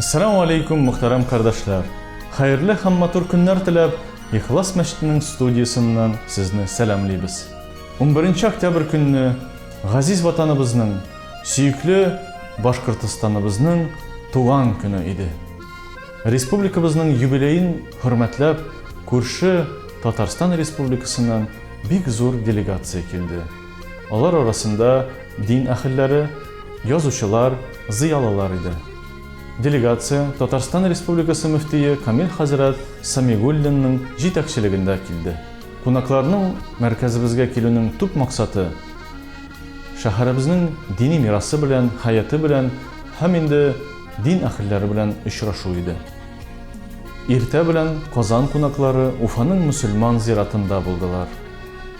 Ассаламу алейкум, мөхтәрәм кардәшләр! Хәерле һәм матур көннәр теләп, Ихлас мәчетенең студиясеннән сезне сәламлибез. Унберенче октябрь көнне газиз Ватаныбызның, сөекле Башкортостаныбызның туган көне иде. Республикабызның юбилеен хөрмәтләп, күрше Татарстан Республикасыннан бик зур делегация килде. Алар арасында дин әһелләре, язучылар, зыялылар иде. Делегация Татарстан Республикасы мөфтие Камил хәзрәт Сәмигуллинның җитәкчелегендә килде. Кунакларның мәркәзебезгә килүнең төп максаты, шәһәребезнең дини мирасы белән, хәяты белән һәм инде дин әһелләре белән очрашу иде. Иртә белән Казан кунаклары Уфаның мөселман зиратында булдылар.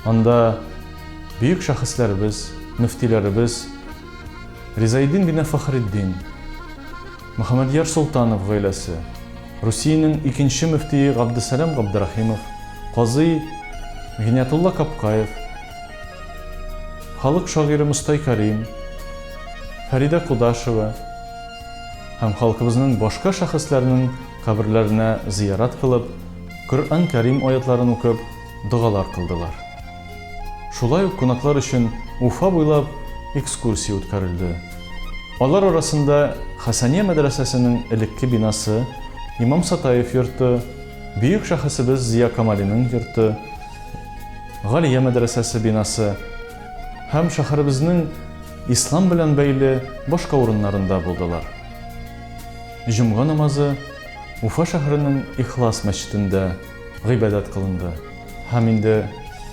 Анда бөек шәхесләребез, мөфтиләребез Ризаэддин бине Фәхреддин, Мөхәммәдьяр Солтанов гаиләсе, Русиянең икенче мөфтие Габдесәлам Габдрәхимов, казый Гиниятулла Капкаев, халык шагыйре Мостай Кәрим, Фәридә Кудашева һәм халкыбызның башка шәхесләренең каберләренә зыярат кылып, Коръән Кәрим аятларын укып, догалар кылдылар. Шулай ук кунаклар өчен Уфа буйлап экскурсия үткәрелде. Алар арасында Хәсания мәдрәсәсенең элекке бинасы, Имам Сатаев йорты, бөек шәхесебез Зия Камалиның йорты, Галия мәдрәсәсе бинасы һәм шәһәребезнең ислам белән бәйле башка урыннарында булдылар. Җомга намазы Уфа шәһәренең Ихлас мәчетендә, гыйбадәт кылынды һәм инде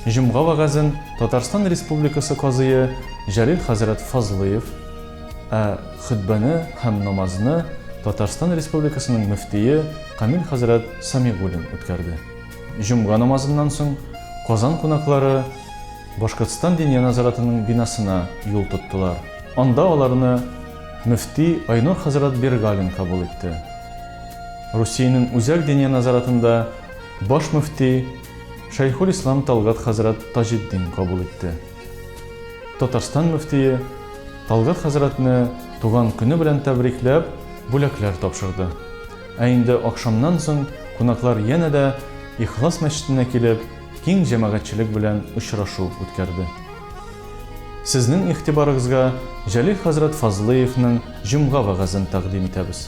җомга вәгазен Татарстан Республикасы Казые Җәлил хәзрәт Фазлыев, ә хөтбәне һәм намазны Татарстан Республикасының мөфтие Камил хәзрәт Сәмигуллин үткәрде. Җомга намазыннан соң Казан кунаклары Башкортстан Диния назаратының бинасына юл тоттылар. Анда аларны мөфти Айнур хәзрәт Бергалин кабул итте. Русиянең Үзәк диния назаратында баш мөфти Шәйхулислам Талгат хәзрәт Таҗетдин кабул итте. Татарстан мөфтие Талгат хәзрәтне туган көне белән тәбрикләп, бүләкләр тапшырды. Ә инде ахшамнан соң кунаклар янә дә Ихлас мәчетенә килеп, киң җәмәгатьчелек белән очрашу үткәрде. Сезнең игътибарыгызга Җәлил хәзрәт Фазлыевның җомга вәгазен тәкъдим итәбез.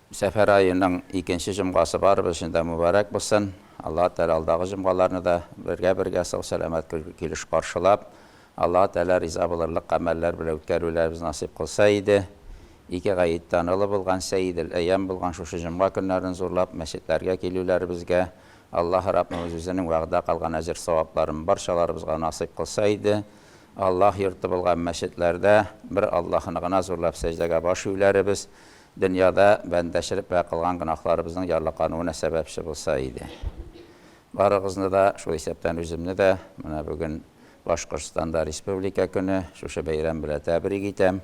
Сәфәр аеның икенче җомгасы барыбыз өчен дә мөбарәк булсын! Аллаһы Тәгалә алдагы җомгаларны да бергә-бергә сау-сәламәт көлке-килеш каршылап, Аллаһы Тәгалә риза булырлык гамәлләр белән үткәрүләребезне насыйп кылса иде. Ике гаеттан олы булган, Сәйидел-әйям булган шушы җомга көннәрен зурлап, мәчетләргә килүләребезгә Аллаһы Раббыбыз Үзенең вәгъдә калган әҗер-савапларын барчаларыбызга насыйп кылса иде. Аллаһ йорты булган мәчетләрдә бер Аллаһыны гына зурлап сәҗдәгә баш июләребез, Дөньяда бәндәчелеккә кылган гөнаһларыбызның ярлыкануына сәбәпче булса иде. Барыгызны да, шул исәптән үземне дә, менә бүген Башкортстанда Республика көне, шушы бәйрәм белән тәбрик итәм.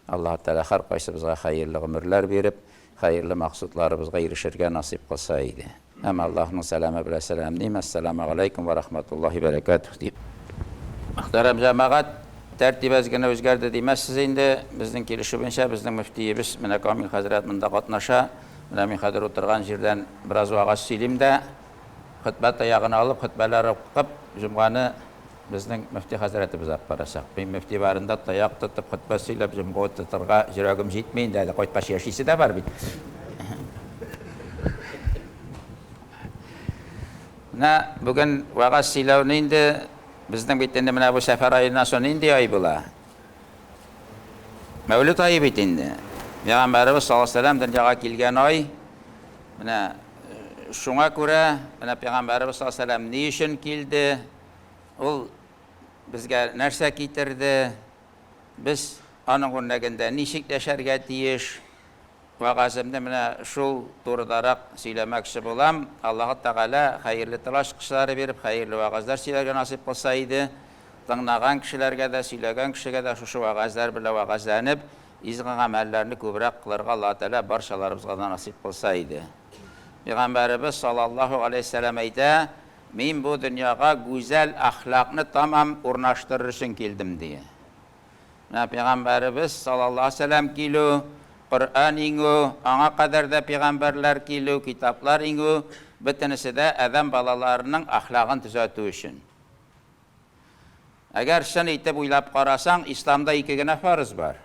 Аллаһы Тәгалә һәркайсыбызга хәерле гомерләр биреп, хәерле максутларыбызга ирешергә насыйп кылса иде. Һәм Аллаһның сәламе белән сәламлим, Әссәламү галәйкүм вә рахматуллаһи бәрәкәтүһ, дип. Мөхтәрәм җәмәгать, тәртип әз генә үзгәрде димәссез инде, безнең килешүебезчә, безнең мөфтиебез, менә Камил хәзрәт монда катнаша, менә мин хәзер утырган җирдән бераз вәгазь сөйлим дә, хөтбә таягын алып, хөтбәләр укып, җомганы Безнең мөфти хәзрәтебез алып барачак. Мин мөфти барында таяк тотып, хөтбә сөйләп, җомга тотарга йөрәгем җитми инде әле, кайткач яшисе дә бар бит. Менә бүген вәгазь сөйләүне инде безнең бит инде менә бу сәфәр аена соң нинди ай була? Мәүлид ае бит инде. Пәйгамбәребез саллаллаһу алейһи ва сәлләм дөньяга килгән ай. Менә шуңа күрә, менә пәйгамбәребез саллаллаһу алейһи ва сәлләм ни өчен килде? ул безгә нәрсә китерде, без аның үрнәгендә ничек яшәргә тиеш? Вәгаземне менә шул турыдарак сөйләмәкче булам. Аллаһы Тәгалә хәерле тылач кысалары биреп, хәерле вәгазьләр сөйләргә насыйп кылса иде, тыңнаган кешеләргә дә, сөйләгән кешегә дә шушы вәгазьләр белән вәгазьләнеп, изге гамәлләрне күбрәк кылырга Аллаһы Тәгалә барчаларыбызга да насыйп кылса иде. Пәйгамбәребез саллаллаһу галәйһи ва сәлләм әйтә, Мин бу дөньяга гүзәл әхлакны тәмам урнаштырыр өчен килдем, ди. Менә пәйгамбәребез саллаллаһу алейһи ва сәлләм килү, Коръән иңү, аңа кадәр дә пәйгамбәрләр килү, китаплар иңү, бөтенесе дә адәм балаларының әхлагын төзәтү өчен. Әгәр чын итеп уйлап карасаң, исламда ике генә фарыз бар.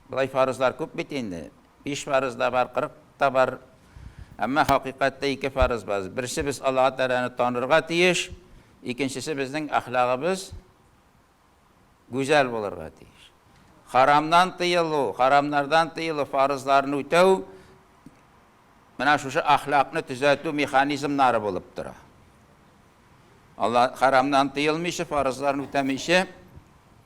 Болай фарызлар күп бит инде. Биш фарыз да бар, кырык та бар. Әмма хакыйкатьтә ике фарыз бар. Берсе без Аллаһы Тәгаләне танырга тиеш, икенчесе безнең әхлагыбыз гүзәл булырга тиеш. Харамнан тыелу, харамнардан тыелу, фарызларны үтәү менә шушы әхлакны төзәтү механизмнары булып тора. Алла хәрамнан тыелмыйча, фарызларын үтәмичә,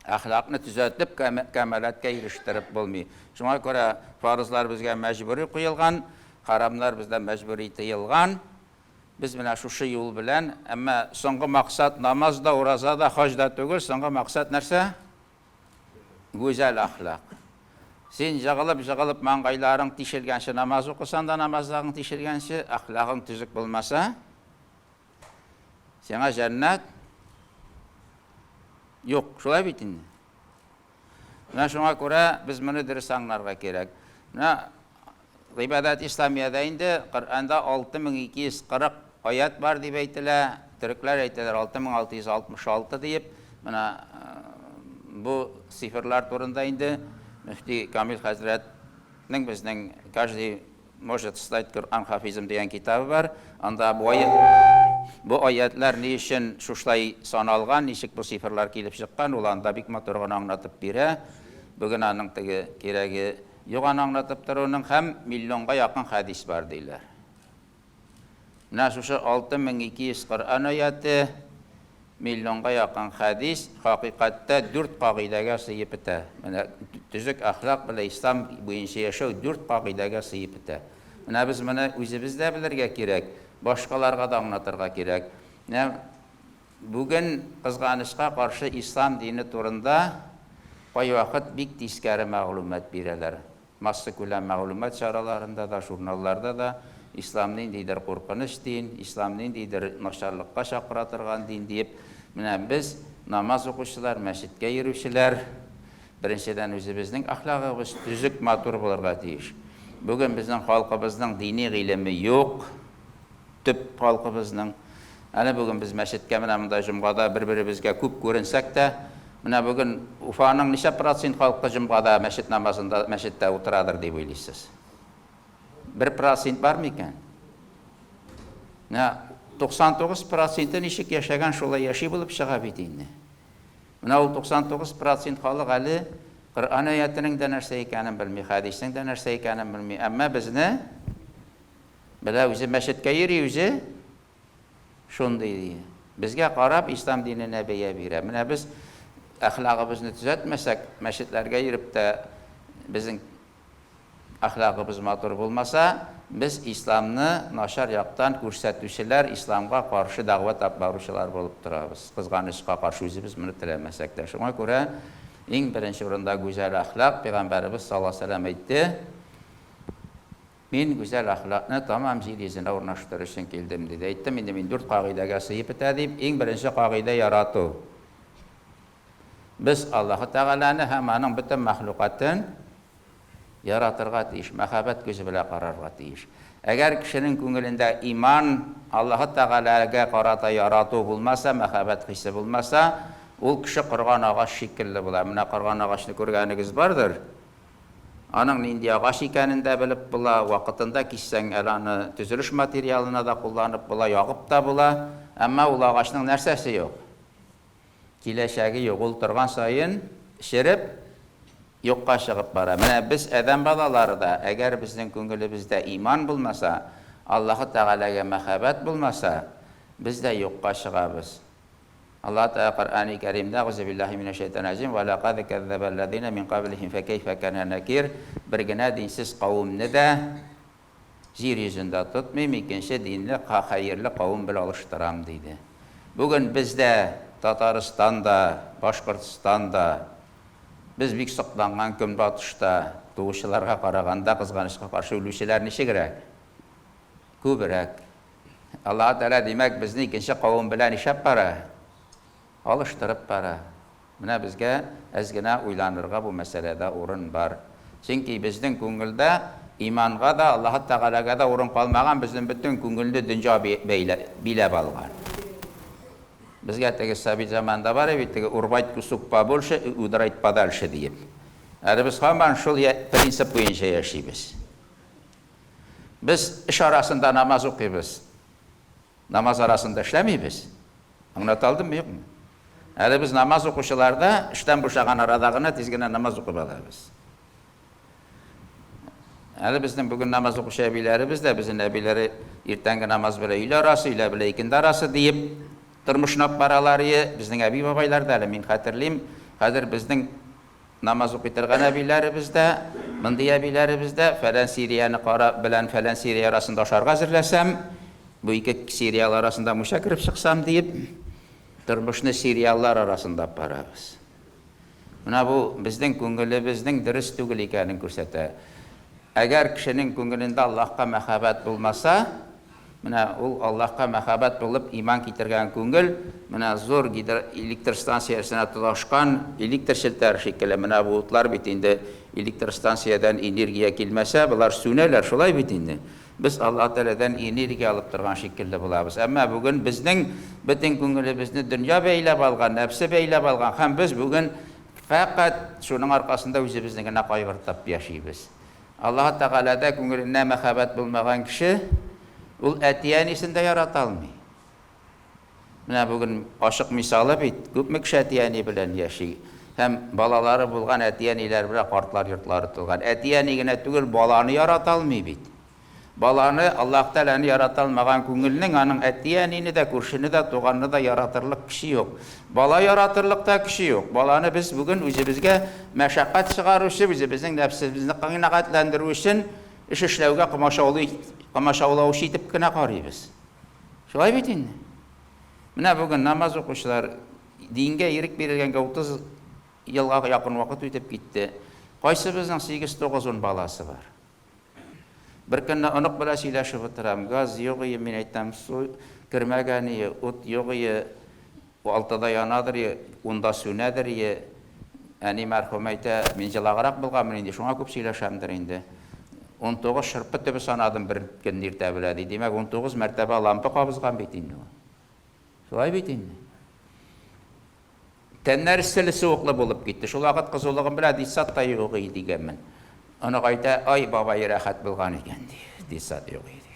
әхлакны төзәтеп, кәмаләткә ирештереп булмый. Шуңа күрә фарызлар безгә мәҗбүри куелган, хәрамнар бездән мәҗбүри тыелган. Без менә шушы юл белән, әмма соңгы максат намаз да, ураза да, хаҗ да түгел, соңгы максат нәрсә? Гүзәл әхлак. Син җыгылып-җыгылып маңгайларың тишелгәнче намаз укысаң да, намазың тишелгәнче, әхлагың төзек булмаса, Сиңа җәннәт юк, шулай бит инде. Менә шуңа күрә без моны дөрес аңларга кирәк. Менә Гыйбадат Исламиядә инде Коръәндә 6240 аят бар дип әйтелә. Төрекләр әйтәләр 6666 диеп. Менә бу цифрлар турында инде мөфти Камил хәзрәтнең безнең каждый Может стать Коръән хафизым дигән китабы бар, анда бу бу аятьләр ни өчен шушлай саналган, ничек бу сыйфырлар килеп чыккан, ул анда бик матур гына аңлатып бирә. Бүген аның теге кирәге юк аны аңлатып торуның һәм миллионга якын хәдис бар диләр. Менә шушы 6200 Коръән аяте, миллионга якын хәдис, хакыйкатьтә дүрт кагыйдәгә сыеп бетә. Менә төзек әхлак белән ислам буенча яшәү дүрт кагыйдәгә сыеп бетә. Менә без моны үзебез дә белергә кирәк, башкаларга да аңлатырга кирәк. Менә бүген, кызганычка каршы, ислам дине турында кайвакыт бик тискәре мәгълүмат бирәләр. Массакүләм мәгълүмат чараларында да, журналларда да Ислам ниндидер куркыныч дин, Ислам ниндидер начарлыкка чакыра торган дин диеп, менә без, намаз укучылар, мәчеткә йөрүчеләр, беренчедән үзебезнең әхлагыбыз төзек, матур булырга тиеш. Бүген безнең халкыбызның дини гыйлеме юк. төп халкыбызның. Әле бүген без мәчеткә менә монда җомгада бер-беребезгә күп күренсәк тә, менә бүген Уфаның ничә процент халкы җомгада мәчет намазында мәчеттә утырадыр дип уйлыйсыз? Бер процент бар микән? Менә 99 проценты ничек яшәгән, шулай яши булып чыга бит инде. Менә ул 99 процент халык әле Коръән аятенең дә нәрсә икәнен белми, хәдиснең дә нәрсә икәнен белми, әмма безне Белә үзе мәчеткә йөри үзе шундый ди. Безгә карап ислам диненә бәя бирә. Менә без әхлагыбызны төзәтмәсәк, мәчетләргә йөреп тә безнең әхлагыбыз матур булмаса, без исламны начар яктан күрсәтүчеләр, исламга каршы дәгъват алып баручылар булып торабыз. Кызганычка каршы үзебез моны теләмәсәк тә. Шуңа күрә иң беренче урында гүзәл әхлак, пәйгамбәребез саллаллаһу галәйһи ва сәлләм әйтте, Мин гүзәл әхлакны тәмам җир йөзенә урнаштырыр өчен килдем, диде. Әйттем инде мин, дүрт кагыйдәгә сыеп бетә дип. Иң беренче кагыйдә, ярату. Без Аллаһы Тәгаләне һәм Аның бөтен мәхлукатын яратырга тиеш, мәхәббәт күзе белән карарга тиеш. Әгәр кешенең күңелендә иман, Аллаһы Тәгаләгә карата ярату булмаса, мәхәббәт хисе булмаса, ул кеше корган агач шикелле була. Менә корган агачны күргәнегез бардыр. Аның нинди агач икәнен дә белеп була, вакытында киссәң әле аны төзелеш материалына да кулланып була, ягып та була. Әмма ул агачның нәрсәсе юк? Киләчәге юк, ул торган саен череп, юкка чыгып бара. Менә без, адәм балалары да, әгәр безнең күңелебездә иман булмаса, Аллаһы Тәгаләгә мәхәббәт булмаса, без дә юкка чыгабыз. Аллаһ Тәгалә Коръәни Кәримдә, Әгъузубиллаһи минәшшәйтанирраҗим, Вә ләкад кәззәбәлләзинә мин каблихим фә кәйфә кәнә нәкир, Бер генә динсез кавемне дә Җир йөзендә тотмыйм, икенче динле, хәерле кавем белән алыштырам, диде. Бүген без дә, Татарстан да, Башкортстан да, без бик сокланган Көнбатышта туучыларга караганда, кызганычка каршы, үлүчеләр ничегрәк? Күбрәк. Аллаһы Тәгалә, димәк, безне икенче кавым белән нишләп бара? Алыштырып бара. Менә безгә әз генә уйланырга бу мәсьәләдә урын бар. Чөнки безнең күңелдә иманга да, Аллаһы Тәгаләгә дә урын калмаган, безнең бөтен күңелне дөнья биләп алган. Безгә теге совет заманында бар иде бит, теге урвать кусок побольше и удрать подальше диеп. Әле без һаман шул принцип буенча яшибез. Без эш арасында намаз укыйбыз. Намаз арасында эшләмибез. Аңлата алдыммы, юкмы? Әле без намаз укучылар да эштән бушаган арада гына тиз генә намаз укып алабыз. Әле безнең бүген намаз укучы әбиләребез дә, безнең әбиләре иртәнге намаз белән өйлә арасы, өйлә белән икенде арасы диеп тормышны алып баралар. Е, безнең әби-бабайлар да әле, мин хәтерлим, хәзер безнең Намаз укый торган әбиләребез дә, мондый әбиләребез дә, фәлән серияне кара, белән фәлән серия арасында ашарга әзерләсәм, бу ике сериал арасында мунча кереп чыксам диеп, тормышны сериаллар арасында алып барабыз. Менә бу безнең күңелебезнең дөрес түгел икәнен күрсәтә. Әгәр кешенең күңелендә Аллаһка мәхәббәт булмаса, Менә ул Аллаһка мәхәббәт булып иман китергән күңел, менә зур гидроэлектрстанция эшенә тоташкан электр челтәре шикелле, менә бу утлар бит инде, электростанциядән энергия килмәсә, болар сүнәләр, шулай бит инде. Без Аллаһ Тәгаләдән энергия алып торган шикелле булабыз. Әмма бүген безнең бөтен күңелебезне дөнья бәйләп алган, нәфсе бәйләп алган һәм без бүген фәкать шуның аркасында үзебезне генә кайгыртып яшибез. Аллаһы Тәгаләдә күңеленә мәхәббәт булмаган кеше, ул әти-әнисен дә ярата алмый. Менә бүген ачык мисалы бит, күпме кеше әти-әни белән яши һәм балалары булган әти-әниләр белән картлар йортлары тулган. Әти-әни генә түгел, баланы ярата алмый бит. Баланы, Аллаһ Тәгаләне ярата алмаган күңелнең аның әти-әнине дә, күршене дә, туганны да яратырлык көче юк. Бала яратырлык та көче юк. Баланы без бүген үзебезгә мәшәкать чыгаручы, үзебезнең нәфсебезне канәгатьләндерү өчен эш эшләүгә комачаулый, комачаулаучы итеп кенә карыйбыз. Шулай бит инде. Менә бүген намаз укучылар, дингә ирек бирелгәнгә 30 елга якын вакыт үтеп китте. Кайсыбызның 8-9-ун баласы бар? Беркөнне онык белән сөйләшеп утырам, газ юк ие, мин әйтәм, су кермәгән ие, ут юк ие, алтыда янадыр ие, унда сүнәдер ие. Әни мәрхүм әйтә, мин җылаграк булганмын инде, шуңа күп сөйләшәмдер инде. Унтугыз шырпы төбе санадым бер көнне иртә белән, ди. Димәк, унтугыз мәртәбә лампа кабызган бит инде ул. Шулай бит инде. Тәннәр эсселе суыклы булып китте. Шул вакыт кызулыгым белән Дисат та юк иде дигәнмен. Аны кайта, ай бабай рәхәт булган икән ди. Дисат юк иде.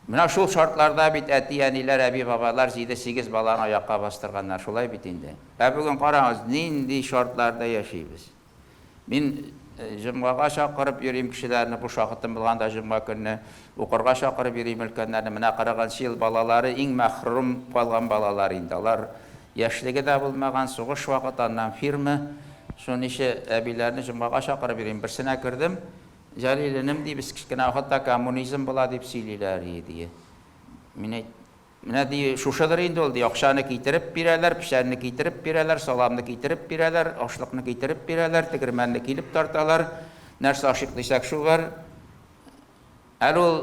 Менә шул шартларда бит әти, әниләр, әби, бабалар 7-8 баланы аякка бастырганнар, шулай бит инде. Ә бүген карагыз, нинди шартларда яшибез. Мин җомгага чакырып йөрим кешеләрне, буш вакытым булганда җомга көнне укырга чакырып йөрим өлкәннәрне. Менә кырыгынчы ел балалары иң мәхрүм калган балалар инде. Алар яшьлеге дә булмаган, сугыш вакыты, аннан фирма. Шуның ише әбиләрне җомгага чакырып йөрим. Берсенә кердем, Җәлил энем, ди, без кечкенә вакытта коммунизм була дип сөйлиләр иде, ди. Мин әйт. Менә, ди, шушыдыр инде ул, ди, акчаны китереп бирәләр, печәнне китереп бирәләр, саламны китереп бирәләр, ашлыкны китереп бирәләр, тегермәнне килеп тарталар. Нәрсә ашыйк дисәк, шул бар. Әле ул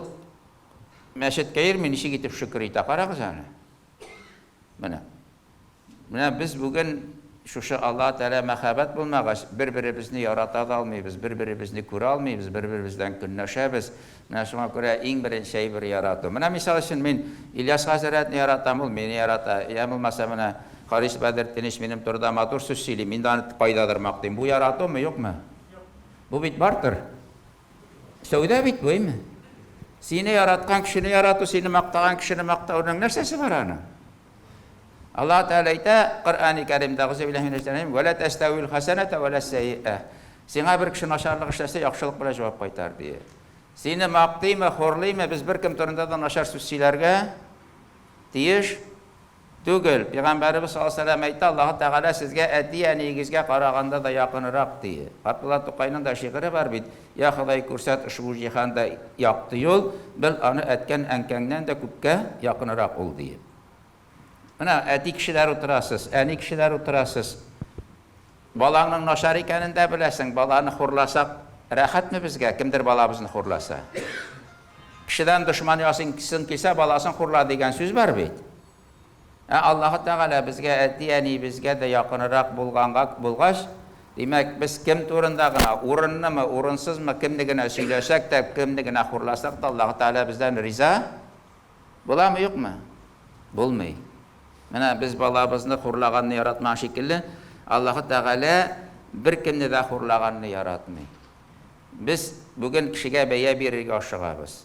мәчеткә йөрми, ничек итеп шөкер итә, карагыз әле. Менә. Менә без бүген шушы Аллаһы Тәгалә мәхәббәт булмагач, бер-беребезне ярата да алмыйбыз, бер-беребезне күрә алмыйбыз, бер-беребез белән көнләшәбез. Менә шуңа күрә иң беренче әйбер ярату. Менә мисал өчен мин Ильяс хәзрәтне яратам, ул мине ярата. Йә булмаса менә Харис Бәдертдинович минем турыда матур сүз сөйли, мин дә аны кайдадыр мактыйм. Бу яратумы, юкмы? Бу бит бартер. Сәүдә бит бу, әйме? Сине яраткан кешене ярату, сине мактаган кешене мактауның нәрсәсе бар аның? Аллаһы Тәгалә әйтә Коръәни Кәримдә, Әгъүзүбиллаһи минәш-шәйтанир-раҗим, Вә лә тәстәвил хәсәнәтә вә лә сәйиә. Сиңа бер кеше начарлык эшләсә, яхшылык белән җавап кайтар, дие. Сине мактыймы, хурлыймы, без беркем турында да начар сүз сөйләргә тиеш түгел. Пигамбәребез саллаллаһу алейһи вә сәлләм әйтә, Аллаһы Тәгалә сезгә әти-әниегезгә караганда да якынрак, дие. Габдулла Тукайның да шигыре бар бит. Я Ходай күрсәт ошбу җиһанда якты юл, бел аны әткән әнкәңнән дә күпкә якынырак ул диеп. Менә әти кешеләр утырасыз, әни кешеләр утырасыз. Балаңның начар икәнен дә беләсең, баланы хурласак рәхәтме безгә, кемдер балабызны хурласа? Кешедән дошман ясыйсың килсә, баласын хурла дигән сүз бар бит. Ә Аллаһы Тәгалә безгә әти-әниебезгә дә якынрак булганга булгач, димәк, без кем турында гына, урынлымы, урынсызмы, кемне генә сөйләсәк тә, кемне генә хурласак та, Аллаһы Тәгалә бездән риза буламы, юкмы? Булмый. Менә без балабызны хурлаганны яратмаган шикелле, Аллаһы Тәгалә беркемне дә хурлаганны яратмый. Без бүген кешегә бәя бирергә ашыгабыз.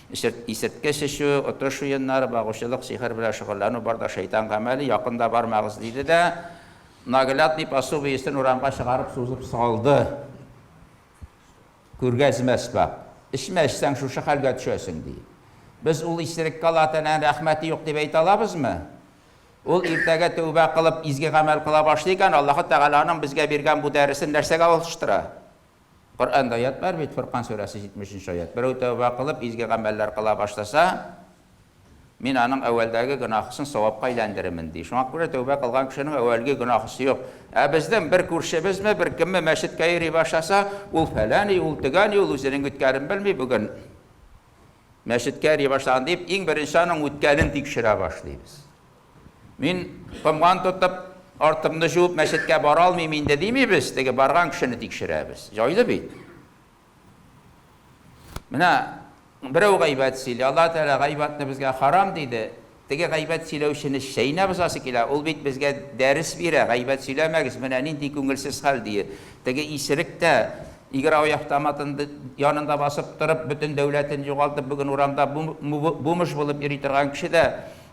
Исерткеч чәчү, отыш уеннары, багучылык, сихер белән шөгыльләнү бар да шәйтан гамәле, якын да бармагыз, диде дә, наглядный пособиесен урамга чыгарып сузып салды. Күргәзмәс бар. Эчмә, эчсәң, шушы хәлгә төшәсең, ди. Без ул исереккә Аллаһы Тәгаләнең рәхмәте юк дип әйтә алабызмы? Ул иртәгә тәүбә кылып, изге гамәл кыла башлый икән, Аллаһы Тәгаләнең безгә биргән бу дәресен нәрсәгә алыштыра? Коръәндә аять бар бит, Фөркан сүрәсе 70 нче аять, Берәү тәүбә кылып, изге гамәлләр кыла башласа, Мин аның әүвәлдәге гөнаһысын савапка әйләндеремен, ди. Шуңа күрә тәүбә кылган кешенең әүвәлге гөнаһысы юк. Ә безнең бер күршебезме, бер кемме мәчеткә йөри башласа, ул фәләни, ул төгәни, ул үзенең үткәнен белми, бүген мәчеткә йөри башлаган, дип, иң беренче аның үткәнен тикшерә башлыйбыз. Мин комган тотып, артымны җуып, мәчеткә бара алмыйм инде димибез, теге барган кешене тикшерәбез. Җайлы бит. Менә берәү гайбәт сөйли, Алла Тәгалә гайбәтне безгә харам диде. Теге гайбәт сөйләүчене чәйнәп узасы килә, ул бит безгә дәрес бирә, гайбәт сөйләмәгез, менә нинди күңелсез хәл дие. Теге исерек тә игр автоматын янында басып торып, бөтен дәүләтен югалтып, бүген урамда бумыш булып йөри торган кеше дә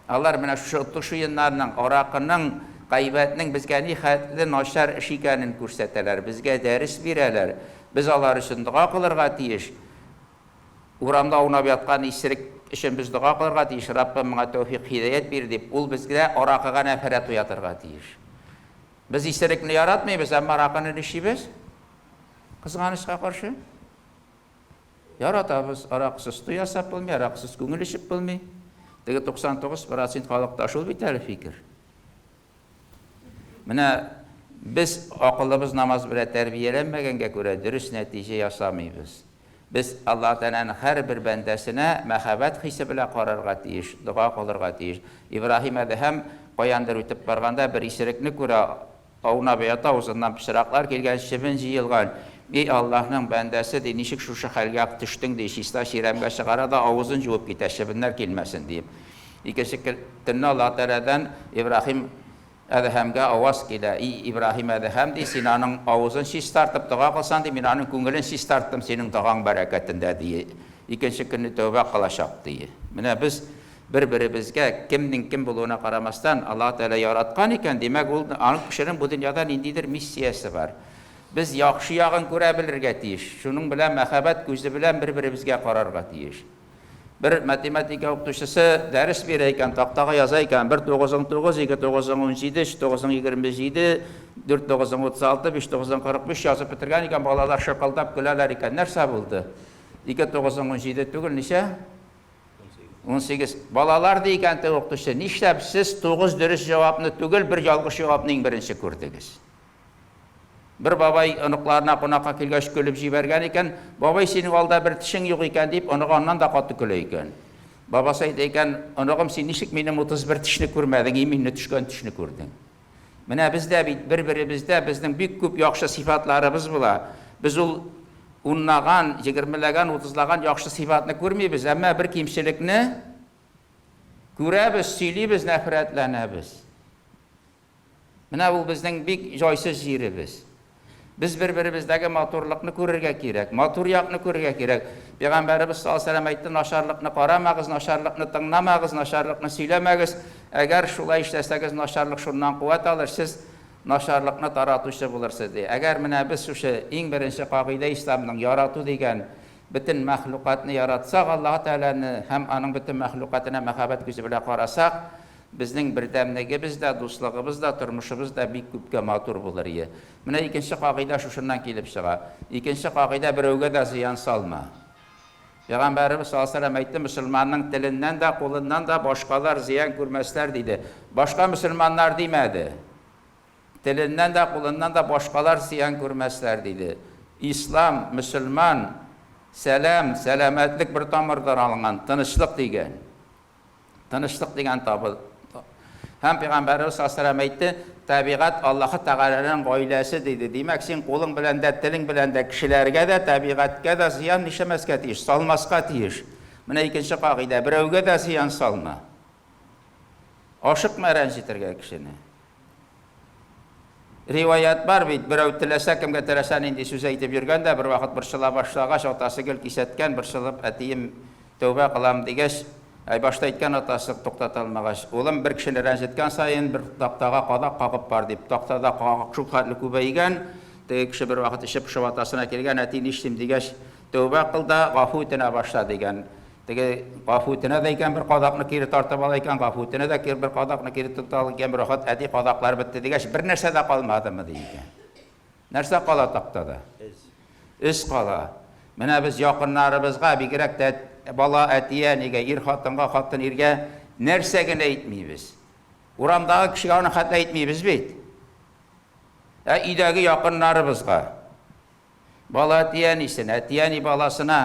Алар менә шушы отыш уеннарның, аракының, гайбәтнең безгә нихәтле начар эш икәнен күрсәтәләр, безгә дәрес бирәләр. Без алар өчен дога кылырга тиеш. Урамда аунап яткан исерек өчен без дога кылырга тиеш, Раббым, моңа тәүфыйк-һидәят бир, дип. Ул бездә аракыга нәфрәт уятырга тиеш. Без исерекне яратмыйбыз, әмма аракыны ничибез, кызганычка каршы. Яратабыз, аракысыз туй ясап булмый, аракысыз күңел эчеп булмый. Теге 99 процент халыкта шул бит әле фикер. Менә без акылыбыз намаз белән тәрбияләнмәгәнгә күрә дөрес нәтиҗә ясамыйбыз. Без Аллаһ Тәгаләнең һәрбер бәндәсенә мәхәббәт хисе белән карарга тиеш, дога кылырга тиеш. Ибраһим Әдһәм каяндыр үтеп барганда бер исерекне күрә, Аунап ята, узыннан пычраклар килгән, чебен җыелган. И Аллаһның бәндәсе, ди, ничек шушы хәлгә төштең, ди, чиста чирәмгә чыгара да авызын җуып китә, чебеннәр килмәсен диеп. Икенче көнне Аллаһы Тәгаләдән Ибраһим Әдһәмгә аваз килә, И Ибраһим Әдһәм, ди, син аның авызын чистартып дога кылсаң, ди, мин аның күңелен чистарттым синең догаң бәрәкәтендә, ди, икенче көнне тәүбә кылачак, ди. Менә без Бер-беребезгә, кемнең кем булуына карамастан, Аллаһы Тәгалә яраткан икән, димәк, ул, ул кешенең бу дөньяда ниндидер миссиясе бар. Без яхшы ягын күрә белергә тиеш, шуның белән мәхәббәт күзе белән бер-беребезгә карарга тиеш. Бер математика укытучысы дәрес бирә икән, тактага яза икән, бер тугызың тугыз, ике тугызың унҗиде, өч тугызың егерме җиде, дүрт тугызың утыз алты, биш тугызың кырык биш язып бетергән икән, балалар шыкылдап көләләр икән, нәрсә булды? Ике тугызың унҗиде түгел, ничә? 18. Балалар, ди икән теге укытучы, нишләп сез тугыз дөрес җавапны түгел, бер ялгыш җавапны иң беренче күрдегез? Бер бабай оныкларына кунакка килгәч көлеп җибәргән икән, бабай, синең алда бер тешең юк икән, дип, оныгы аннан да каты көлә икән. Бабасы әйтә икән, оныгым, син ничек минем 31 тешне күрмәдең, иминне төшкән тешне күрдең? Менә без дә бит бер-беребездә безнең бик күп яхшы сыйфатларыбыз була. Без ул унлаган, егермеләгән, утызлаган яхшы сыйфатны күрмибез, әмма бер кимчелекне күрәбез, сөйлибез, нәфрәтләнәбез. Менә ул безнең бик җайсыз җиребез. Без бер-беребездәге матурлыкны күрергә кирәк, матур якны күрергә кирәк. Пәйгамбәребез саллаллаһу алейһи ва сәлләм әйтте, Начарлыкны карамагыз, начарлыкны тыңламагыз, начарлыкны сөйләмәгез. Әгәр шулай эшләсәгез, начарлык шуннан куәт алыр, сез начарлыкны таратучы булырсыз, ди. Әгәр менә без шушы иң беренче кагыйдә Исламның, ярату дигән, бөтен мәхлукатны яратсак, Аллаһы Тәгаләне һәм Аның бөтен мәхлукатына мәхәббәт күзе белән карасак, Безнең бердәмлегебез дә, дуслыгыбыз да, тормышыбыз да бик күпкә матур булыр ие. Менә икенче кагыйдә шушыннан килеп чыга. Икенче кагыйдә берәүгә дә зыян салма. Пәйгамбәребез саллаллаһу галәйһи ва сәлләм әйтте, Мөселманның теленнән дә, кулыннан да башкалар зыян күрмәсләр, диде. Башка мөселманнар димәде. Теленнән дә, кулыннан да башкалар зыян күрмәсләр, диде. Ислам, мөселман, сәлам, сәламәтлек бер тамырдан алынган, тынычлык, дигән. Тынычлык дигән табыл. Һәм пәйгамбәребез саллаллаһу әйтте, табигать Аллаһы Тәгаләнең гаиләсе диде. Димәк, син кулың белән дә, телең белән дә кешеләргә дә, табигатькә дә зыян нишәмәскә тиеш, салмаска тиеш. Менә икенче кагыйдә, берәүгә дә зыян салма. Ашыкма рәнҗетергә кешене. Риваять бар бит, берәү теләсә кемгә теләсә нинди сүз әйтеп йөргән дә, бервакыт борчыла башлагач, атасы гел кисәткән, борчылып, әтием, тәүбә кылам, дигәч, әй, башта әйткән атасы, туктата алмагач. Улым, бер кешене рәнҗеткән саен, бер тактага кадак кагып бар, дип, тактада кагак шул хәтле күбәйгән, теге кеше бервакыт эче пошып атасына килгән, әти, нишлим, дигәч, тәүбә кыл да, гафу үтенә башла, дигән. Теге гафу үтенә дә икән, бер кадакны кире тартып ала икән, гафу үтенә дә бер кадакны кире тота ала икән, рәхәт, әти, кадаклар бетте дигәч, бернәрсә дә калмадымы, ди икән. Нәрсә кала тактада? Эз кала. Менә без якыннарыбызга, бигрәк тә бала әти-әнигә, ир хатынга, хатын иргә нәрсә генә әйтмибез. Урамдагы кешегә аны хәтта әйтмибез бит. Ә өйдәге якыннарыбызга. Бала әти-әнисен, әти-әни баласына,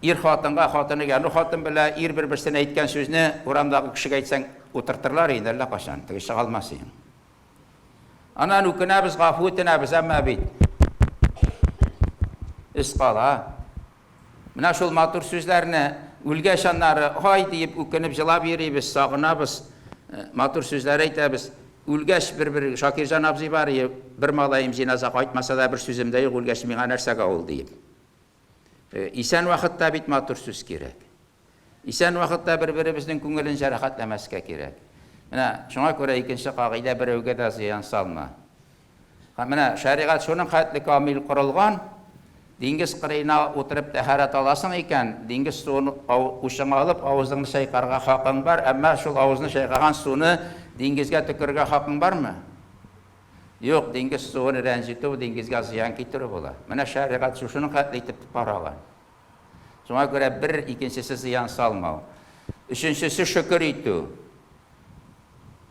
ир-хатынга, хатын егә, ну хатын белә ир бер-берсенә әйткән сүзне урамдагы кешегә әйтсәң, утыртырлар инде әллә кайчан, теге чыга алмас иде. Аннан үкенәбез, гафу үтенәбез, әмма бит эз кала. Менә шул матур сүзләрне үлгәч аннары ай диеп үкенеп җылап йөрибез, сагынабыз, матур сүзләр әйтәбез. Үлгәч бер-бер Шакирҗан абзый бар и, бер малаем җиназа кайтмаса да бер сүзем дә юк, үлгәч миңа нәрсәгә ул диеп. Исән вакытта бит матур сүз кирәк. Исән вакытта бер-беребезнең күңелен җәрәхәтләмәскә кирәк. Менә шуңа күрә икенче кагыйдә, берәүгә дә зыян салма. Һәм менә шәригать шуның хәтле камил корылган, диңгез кырыена утырып тәһарәт аласың икән, диңгез суын учыңа алып, авызыңны чайкарга хакың бар, әмма шул авызны чайкаган суны диңгезгә төкерергә хакың бармы? Юк, диңгез суын рәнҗетү, диңгезгә зыян китерү була. Менә шәригать шушының хәтле итеп караган. Шуңа күрә бер икенчесе зыян салмау. Өченчесе шөкер итү.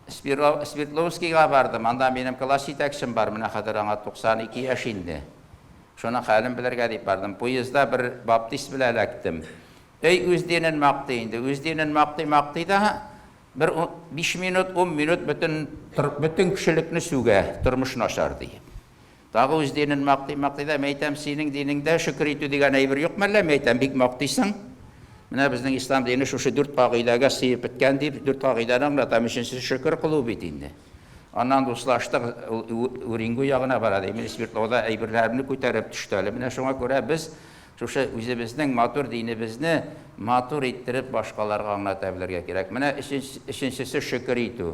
Свердловскийга бардым, анда минем класс җитәкчем бар, менә хәзер аңа 92 яшь инде. Шуның хәлен белергә дип бардым. Поездда бер баптист белән эләктем. Әй, үз динен мактый инде, үз динен мактый-мактый да, бер биш минут, ун минут бөтен кешелекне сүгә, тормыш начар ди. Тагы үз динен мактый-мактый да, мәйтәм, синең динеңдә шөкер итү дигән әйбер юк мәллә, мәйтәм, бик мактыйсың. Менә безнең ислам дине шушы дүрт кагыйдәгә сыеп беткән дип, дүрт кагыйдәне аңлатам. Өченчесе шөкер кылу бит инде. Аннан дуслаштык, Уренгу ягына бара ди. Мин Свердловда әйберләремне күтәреп төште әле. Менә шуңа күрә без шушы үзебезнең матур динебезне матур иттереп башкаларга аңлата белергә кирәк. Менә өченчесе шөкер итү.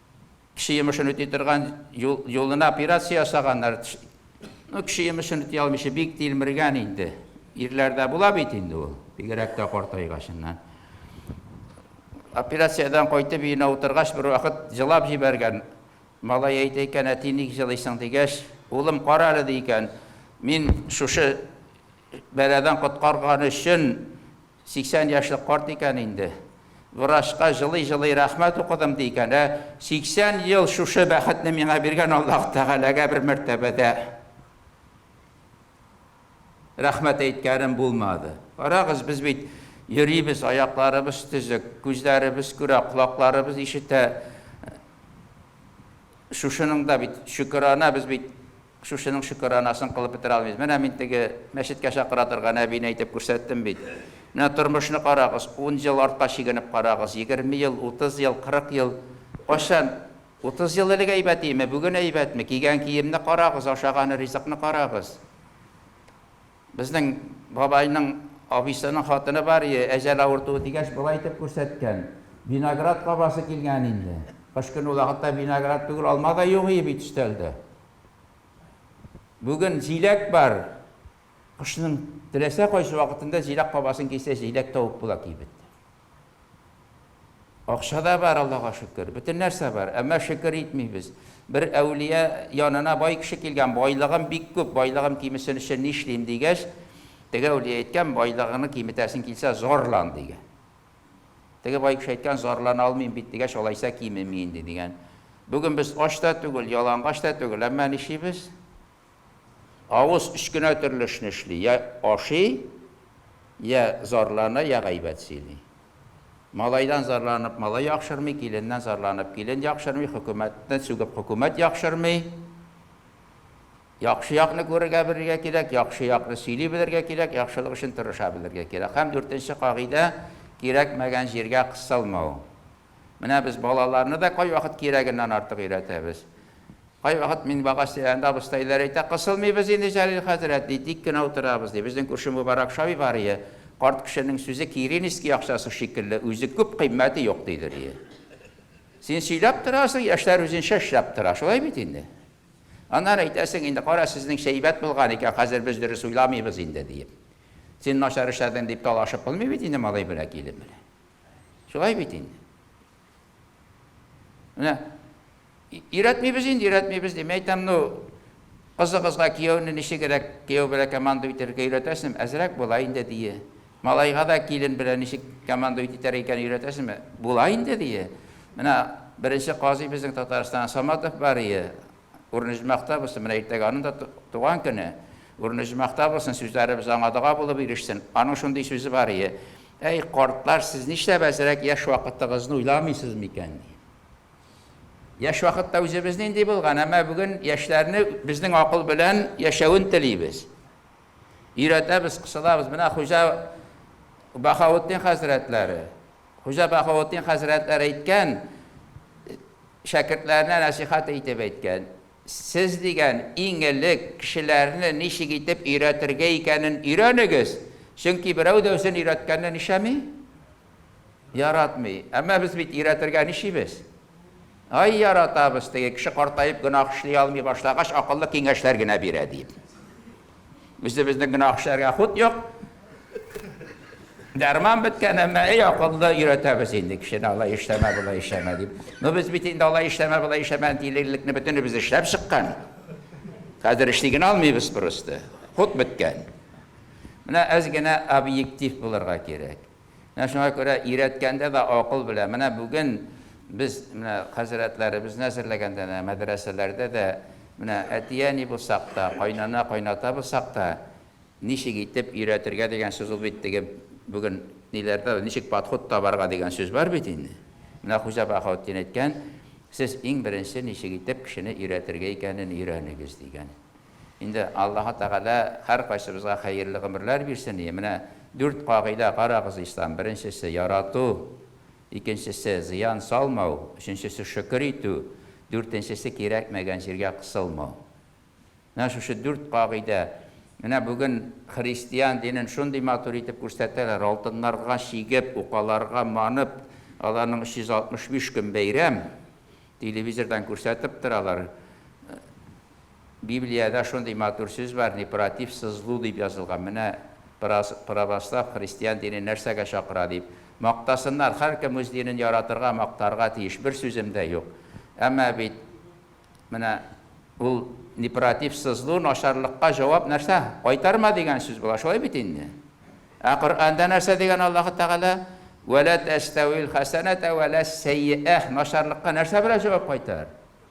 Кеше йомышын үти торган юлына операция ясаганнар. Ну, кеше йомышын үти алмыйча бик тилмергән инде. Ирләрдә була бит инде ул, бигрәк тә картайгачыннан. Операциядән кайтып өенә утыргач, бер вакыт җылап җибәргән. Малай әйтә икән, әти ник җылыйсың дигәч, улым, кара әле ди икән, мин шушы бәладән коткарган өчен 80 яшьлек карт икән инде. Врачка җылый-җылый рәхмәт укыдым, ди икән. Ә 80 ел шушы бәхетне миңа биргән Аллаһ Тәгаләгә бер мәртәбә дә рәхмәт әйткәнем булмады. Карагыз, без бит йөрибез, аякларыбыз төзек, күзләребез күрә, колакларыбыз ишетә. Шушының да бит шөкерана без бит Шушының шөкеранасын кылып бетерә алмыйбыз. Менә мин теге мәчеткә чакыра торган әбине әйтеп күрсәттем бит. Менә тормышны карагыз, ун ел артка чигенеп карагыз, егерме ел, утыз ел, кырык ел. Кайчан? Утыз ел элек әйбәт иеме, бүген әйбәтме? Кигән киемне карагыз, ашаган ризыкны карагыз. Безнең бабайның абыйсының хатыны бар ие, әҗәл авыртуы дигәч, болай итеп күрсәткән, Виноград кабасы килгән инде. Кыш көне ул вакытта виноград түгел, алма да юк ие бит өстәлдә. Бүген җиләк бар. Кышның теләсә кайсы вакытында җиләк кабасын кисә, җиләк тавып була кибеттә. Акча да бар, Аллага шөкер. Бөтен нәрсә бар. Әмма шөкер итмибез. Бер әүлия янына бай кеше килгән, байлыгым бик күп, байлыгым кимесен өчен нишлим, дигәч, теге әүлия әйткән, байлыгыңны киметәсең килсә, зарлан, дигән. Теге бай кеше әйткән, зарлана алмыйм бит, дигәч, алайса кимеми инде, дигән. Бүген без ач та түгел, ялангач та түгел, әмма нишлибез? Авыз өч кенә төрле эшне эшли, йә ашый, йә зарлана, йә гайбәт сөйли. Малайдан зарланып малай яхшырмый, киленнән зарланып килен яхшырмый, хөкүмәтне сүгеп хөкүмәт яхшырмый. Яхшы якны күрергә белергә кирәк, яхшы якны сөйли белергә кирәк, яхшылык өчен тырыша белергә кирәк. Һәм дүртенче кагыйдә, кирәкмәгән җиргә кысылмау. Менә без балаларны да кайвакыт кирәгеннән артык өйрәтәбез. Кайвакыт мин багаж тирәһендә абыстайлар әйтә, Кысылмыйбыз инде, Җәлил хәзрәт, ди, тик кенә утырабыз, ди. Безнең күрше Мөбарәк Шавиварие, Карт кешенең сүзе Киринский акчасы шикелле, үзе күп, кыйммәте юк, дидер иде. Син сөйләп торасың, яшьләр үзенчә эшләп тора. Шулай бит инде. Аннары әйтәсең инде, Кара, сезнең эш әйбәт булган икән, хәзер без дөрес уйламыйбыз инде, диеп. Син начар эшләдең, дип талашып булмый бит инде малай белән килен белән. Шулай бит инде. Менә өйрәтмибез инде, өйрәтмибез ди. Мин әйтәм, ну, кызыгызга кияүне ничегрәк, кияү белән командовать итәргә өйрәтәсезме? Әзрәк була инде, дие. Малайга да килен белән ничек командовать итәр икән өйрәтәсезме? Була инде, дие. Менә беренче казый безнең Татарстан Саматов бар ие. Үрнөҗмәктә булсын, менә иртәгә аның да туган көне. Үрнөҗмәктә булсын, сүзләребез аңа дога булып ирешсен. Аның шундый сүзе бар ие, Әй, картлар, сез нишләп әзрәк яшь вакытыгызны уйламыйсыз микән? ди. Яшь вакытта үзебез нинди булган, әмма бүген яшьләрне безнең акыл белән яшәвен телибез. Өйрәтәбез, кысылабыз. Менә Хуҗа Баһаутдин хәзрәтләре. Хуҗа Баһаутдин хәзрәтләре әйткән, Шәкертләренә нәсыйхәт итеп әйткән, Сез, дигән, иң элек кешеләрне ничек итеп өйрәтергә икәнен өйрәнегез, чөнки берәү дә үзен өйрәткәнне нишәми? Яратмый. Әмма без бит өйрәтергә нишибез? Ай, яратабыз, теге кеше картаеп гөнаһ эшли алмый башлагач, акыллы киңәшләр генә бирә, диеп. Үзебезнең генә акчаларга хут юк. Дәрман беткән, әмма әй акыллы өйрәтәбез инде кешене алай эшләмә, болай эшләмә дип. Ну без бит инде алай эшләмә, болай эшләмә дилерлекне бөтенебез эшләп чыккан. Хәзер эшли генә алмыйбыз просто. Хут беткән. Менә әз генә объектив булырга кирәк. Менә шуңа күрә өйрәткәндә дә акыл белән. Менә бүген без менә хәзрәтләребезне әзерләгәндә дә, мәдрәсәләрдә дә менә әти-әни булсак та, кайнана-кайната булсак та, ничек итеп өйрәтергә дигән сүз ул бит теге бүген ниләрдә ничек подход табарга дигән сүз бар бит инде. Менә Хуҗа Баһаутдин әйткән, сез иң беренче ничек итеп кешене өйрәтергә икәнен өйрәнегез дигән. Инде Аллаһы Тәгалә һәркайсыбызга хәерле гомерләр бирсен и. Менә дүрт кагыйдә, карагыз, ислам, беренчесе, ярату, икенчесе, зыян салмау, өченчесе, шөкер итү, дүртенчесе, кирәкмәгән җиргә кысылмау. Менә шушы дүрт кагыйдә. Менә бүген христиан динен шундый матур итеп күрсәтәләр, алтыннарга чигеп, укаларга манып, аларның 365 көн бәйрәм, телевизордан күрсәтеп торалар. Библиядә шундый матур сүз бар, не против со злу дип язылган. Менә праз православ христиан дине нәрсәгә чакыра дип. Мактасыннар, һәркем үз динен яратырга, мактарга тиеш, бер сүзем дә юк. Әмма бит менә ул не против со злу начарлыкка җавап нәрсә? Кайтарма дигән сүз була, шулай бит инде? Ә Коръәндә нәрсә дигән Аллаһы Тәгалә? Вә лә тәстәвил хәсәнәтә вә ләс сәйиәһ начарлыкка нәрсә белән җавап кайтар?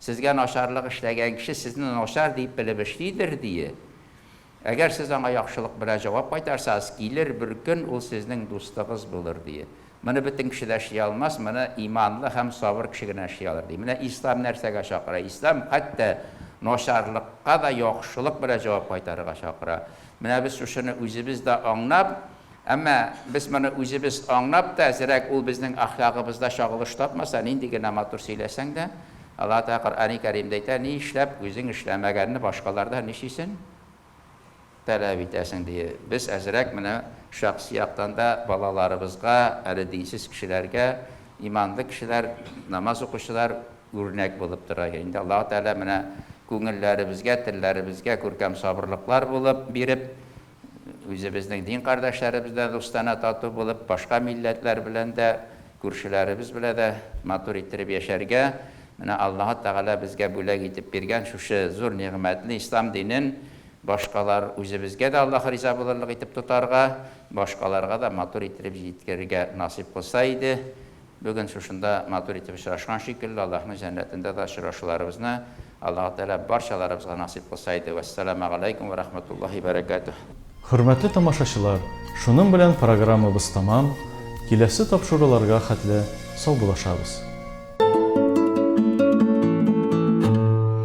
Сезгә начарлык эшләгән кеше сезне начар дип белеп эшлидер, дие. Әгәр сез аңа яхшылык белән җавап кайтарсагыз, килер бер көн, ул сезнең дустыгыз булыр, дие. Моны бөтен кеше дә эшли алмас, моны иманлы һәм сабыр кеше генә эшли алыр, ди. Менә Ислам нәрсәгә чакыра? Ислам хәтта начарлыкка да яхшылык белән җавап кайтарырга чакыра. Менә без шушыны үзебез дә аңлап, Әмма без моны үзебез аңлап та, әзрәк ул безнең әхлагыбызда чагылыш тапмаса, нинди генә матур сөйләсәң дә, Аллаһы Тәгалә Коръәни Кәримдә әйтә, Ни эшләп үзең эшләмәгәнне башкалардан ничисен таләп итәсең? дие. Без әзрәк менә шәхси яктан да балаларыбызга, әле динсез кешеләргә иманлы кешеләр, намаз укучылар үрнәк булып торыйк. Инде Аллаһы Тәгалә менә күңелләребезгә, телләребезгә күркәм сабырлыклар булып биреп, Үзебезнең дин кардәшләребез дә дустана тату булып, башка милләтләр белән дә, күршеләребез белә дә матур иттереп яшәргә, менә Аллаһы Тәгалә безгә бүләк итеп биргән шушы зур нигъмәтне, Ислам динен башкалар, үзебезгә дә Аллаһы риза булырлык итеп тотарга, башкаларга да матур иттереп җиткерергә насыйп кылса иде. Бүген шушында матур итеп очрашкан шикелле, Аллаһның җәннәтендә дә очрашуларыбызны Аллаһы Тәгалә барчаларыбызга насыйп кылса иде. Вәссәламәгаләйкүм вә рахмәтуллаһи бәрәкәтүһ. Хөрмәтле тамашачылар, шуның белән программабыз тәмам, киләсе тапшыруларга хәтле саубуллашабыз.